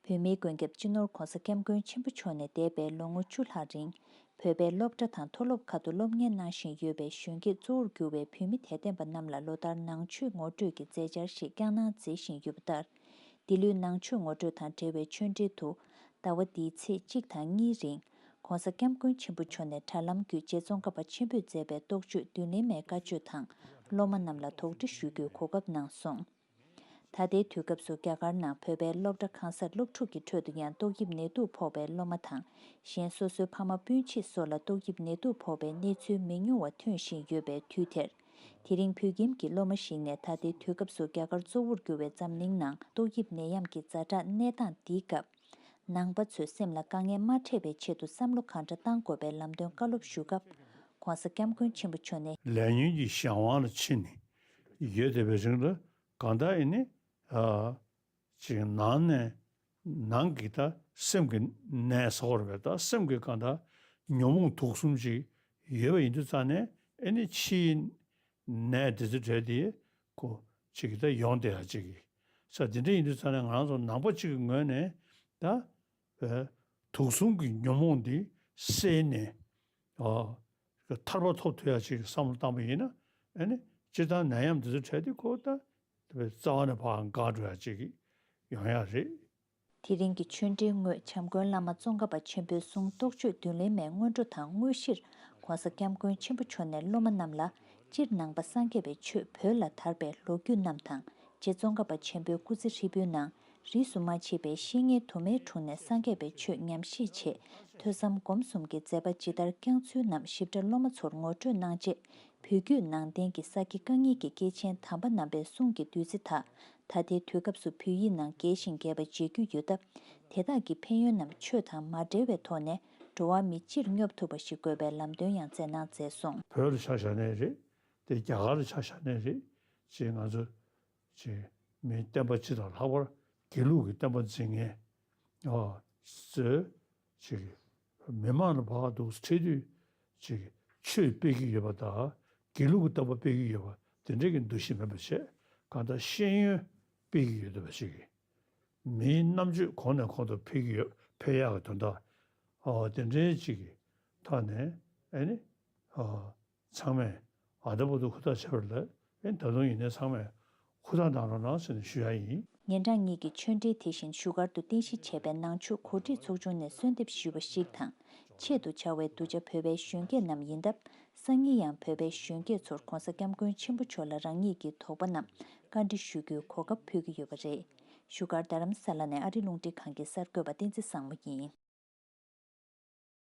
བོད་མིའི་མགོན་སྐྱབས་སྤྱི་ནོར ྋགོང་ས ྋསྐྱབས་མགོན་ཆེན་པོ་མཆོག་ནས་འདས་པའི་ལོ་ངོ་བཅུ་ལྷག་རིང་བོད་པའི་སློབ་གྲྭ་དང་མཐོ་སློབ་ཁག་ཏུ་སློབ་གཉེར་གནང་བཞིན་ཡོད་པའི་གཞོན་སྐྱེས་གཙོ་བོར་གྱུར་བའི་བོད་མི་དད་ལྡན་པ་རྣམས་ལ་ལོ་ལྟར་ནང་ཆོས་ངོ་སྤྲོད་ཀྱི་མཛད་འཆར་ཞིག་བསྐྱངས་གནང་མཛད་བཞིན་ཡོད་པ་ལྟར། འདི་ལོའི་ནང་ཆོས་ངོ་སྤྲོད་དང་འབྲེལ་བའི་ཆོས་འབྲེལ་དུ། ཟླ་བ་འདིའི་ཚེས་གཅིག་དང་གཉིས་རིང ྋགོང་ས ྋསྐྱབས་མགོན་ཆེན་པོ་མཆོག་ནས་དྲ་ལམ་བརྒྱུད་རྗེ་ཙོང་ཁ་པ་ཆེན་པོས་མཛད་པའི་རྟོགས་བརྗོད་བདུན་ལེན་མའི་བཀའ་ཆོས་དང་སློབ་མ་རྣམས་ལ་དོགས་འདྲི་ཞུ་རྒྱུའི་གོ་སྐབས་གནང་སོང། ད་ལྟའི་དུས་སྐབས་སུ་རྒྱ་གར་ནང་བོད་པའི་སློབ་གྲྭ་གང་སར་སློབ་ཕྲུག་གི་ཁྲོད་དུ་ཡང་ཏོག་དབྱིབས་ནད་དུག་ཕོག་པའི་སློབ་མ་དང་གཞན་སོ་སོའི་ཕ་མ་སྤུན་མཆེད་སོགས་ལ་ཏོག་དབྱིབས་ནད་དུག་ཕོག་པའི་གནས་ཚུལ་མི་ཉུང་བ་ཐོན་བཞིན་ཡོད་པའི་དུས་དེར། དེ་རིང་བོད་ཁྱིམ་གྱི་སློབ་མ་ཞིག་ནས་ད་ལྟའི་དུས་སྐབས་སུ་རྒྱ་གར་གཙོ་བོར་གྱུར་བའི་འཛམ་གླིང་ནང་ཏོག་དབྱིབས་ནད་ཡམས་ཀྱི་རྫ་དྲག་གནས་སྟངས་འདིའི་སྐབས། ནང་པ་ཚོས་སེམས་ལ་དཀའ་ངལ་མ་འཕྲད་པའི་ཆེད་དུ་བསམ་བློ་གང་འདྲ་གཏང་དགོས་པའི་ལམ་སྟོན་བཀའ་སློབ་ཞུ་སྐབས། ྋགོང་ས ྋསྐྱབས་མགོན་ཆེན་པོ་མཆོག་ནས། ལས་ཉོན་གྱི་གཞན་དབང་ལ་ཕྱིན་ནས་ཡོད་དེ་བའི་རིང་ལ་གང་དག་ཡིན་ནི། ཅིང་ནང་ནས་ནང་གི་དག་སེམས་ཀྱི་ནས་ས་བོར་བའི་དག་སེམས་ཀྱི་གང་དག་ཉོན་མོངས་དུག་གསུམ་ཅིག་ཡོད་པ་ཡིན་དུ་རྩ་ནས་ཨེ་ནི་ཕྱིའི་ནས་དེ་ཚེ་བྲལ་དེའི་གོ་ཅིག་གི་དག་ཡོངས་དེ་ཨ་ཅིག་གི་ས་དེ་འདྲ་ཡིན་དུ་རྩ་ནས་ང་རང་ཚོ་ནང་པ་ཅིག་གི་ངོས་ནས་དག་དུག་གསུམ་གྱི་ཉོན་མོངས་འདི་བསལ་ནས། ཐར་པ་ཐོབ་ཐུབ་ཡག་ཅིག་བསམ་བློ་བཏང་བ་ཡིན་ན། སྤྱིར་བཏང་ནད་ཡམས་འདི་ཚོ་བྲལ་ཏེ་ཁོ་ད་རྩ་བ་ནས་བག་འགག་འགྲོ་ཡག་ཅིག་ཡོང་ཡག་རེད། དེ་རིང་གི་ཆོས་འབྲེལ་དངོས་བྱམས་མགོན་བླ་མ་ཙོང་ཁ་པ་ཆེན་པོའི་གསུང་རྟོགས་ཆོས་བདུན་ལེན་མའི་སྔོན་འགྲོ་དང་དངོས་གཞིར ྋགོང་ས ྋསྐྱབས་མགོན་ཆེན་པོ་མཆོག་ནས་སློབ་མ་རྣམས་ལ་སྤྱིར་ནང་པ་སངས་རྒྱས་པའི་ཆོས་བོད་ལ་དར་པའི་ལོ་རྒྱུས་རྣམས་དང་རྗེ་ཙོང་ཁ་པ་ཆེན་པོའི་སྐུ་ཚེ་ཧྲིལ་པོའི་ནང་རིས་སུ་མ་མཆིས་པའི་བཤེས་གཉེན་དུ་མའི་དྲུང་ནས་སངས་རྒྱས་པའི་ཆོས་ཉམས་བཞེས་ཆེད་ཐོས་བསམ་སྒོམ་གསུམ་གྱི་མཛད་པ་ཇི་ལྟར་བསྐྱངས་ཚུལ་རྣམས་ཞིབ་ཕྲ་སློབ་མ་ཚོར་ངོ་སྤྲོད་གནང་རྗེས་བོད་བརྒྱུད་ནང་བསྟན་གྱི་ས་དགེ་རྐང་གཉིས་ཀྱི་སྐྱེས་ཆེན་དམ་པ་རྣམ་པའི་གསུང་གི་བདུད་རྩི་དག་ད་ལྟའི་དུས་སྐབས་སུ་བོད་ཡིག་ནང་རྒྱས་ཤིང་རྒྱས་པ་མཇལ་རྒྱུ་ཡོད་སྟབས་དེ་དག་གི་ཕན་ཡོན་རྣམས་ཆོས་དང་མ་འབྲེལ་བའི་ཐོག་ནས་འགྲོ་བ་མི་སྤྱིར་སྙོབ་ཐུབ་པ་ཞིག་དགོས་པའི་ལམ་སྟོན་ཡང་སྩལ་གནང་མཛད་སོང། བོད་ལ་ཆ་བཞག་ནས་རེད་དེ་རྒྱ་གར་ལ་ཆ་བཞག་ནས་རེད་ཅེས་ང་ཚོ་ཅེས་མིའི་བསྟན་པ་སྤྱི་དང་ལྷག་པར་དགེ་ལུགས་ཀྱི་བསྟན་པ་འཛིན་མཁན། མི་དམངས་ལ་བག་འདུག་ཚེ་དུས། ཆོས་སྤེལ་གྱི་ཡོད་པ་དང་དགེ་ལུགས་ཀྱི་བསྟན་པ་སྤེལ་གྱི་ཡོད་པ་དེ་འདྲ་གི་འདུ་ཤེས་མེད་པར་ཆེས་གང་ལྟར་ཤེས་ཡོན་སྤེལ་གྱི་ཡོད་འདུག་པ་ཞིག་ཡིན། མིའི་རྣམ་དཔྱོད་གོང་ནས་གོང་དུ་འཕེལ་གྱི་ཡོད་འཕེལ་ཡག་གི་དོན་དག་དེ་འདྲའི་ཅིག་གི་ཐག་ནས། ཚང་མས་ཨ་ད་བུ་ཏུ་ཁུ་ཐག་ཆད་པར་ལབ་ཨེ་ད་དུང་ཡིན་ནའི་ཚང་མས་ཁུ་ཐག་གདང་རོགས་གནང་ཟེར་ནས་ཞུ་ཡ་ཡིན། ཉེ་འགྲངས་གཉིས་ཀྱི་ཆོས་འབྲེལ་དེ་བཞིན་བཞུགས་སྒར་དུ་རྟེན་གཞི་བྱས་པའི་ནང་ཆོས་གོ་སྒྲིག་ཚོགས་ཆུང་ནས་གསོལ་འདེབས་ཞུས་པ་ཞིག་དང་ཆེད་དུ་བྱ་བའི་གདུལ་བྱ་བོད་པའི་གཞོན་སྐྱེས་རྣམས་ཡིན་སྟབས་སང་ཉིན་ཡང་བོད་པའི་གཞོན་སྐྱེས་ཚོར་གོང་ས་སྐྱབས་མགོན་ཆེན་པོ་མཆོག་ལ་རང་ཉིད་ཀྱི་དོགས་པ་རྣམས་བཀའ་འདྲི་ཞུ་རྒྱུའི་གོ་སྐབས་ཕུལ་གྱི་ཡོད་པ་རེད། བཞུགས་སྒར་རྡ་རམ་ས་ལ་ནས་ཨ་རི་རླུང་འཕྲིན་ཁང་གི་གསར་འགོད་པ་བསྟན་འཛིན་བཟང་མོ་ཡིན།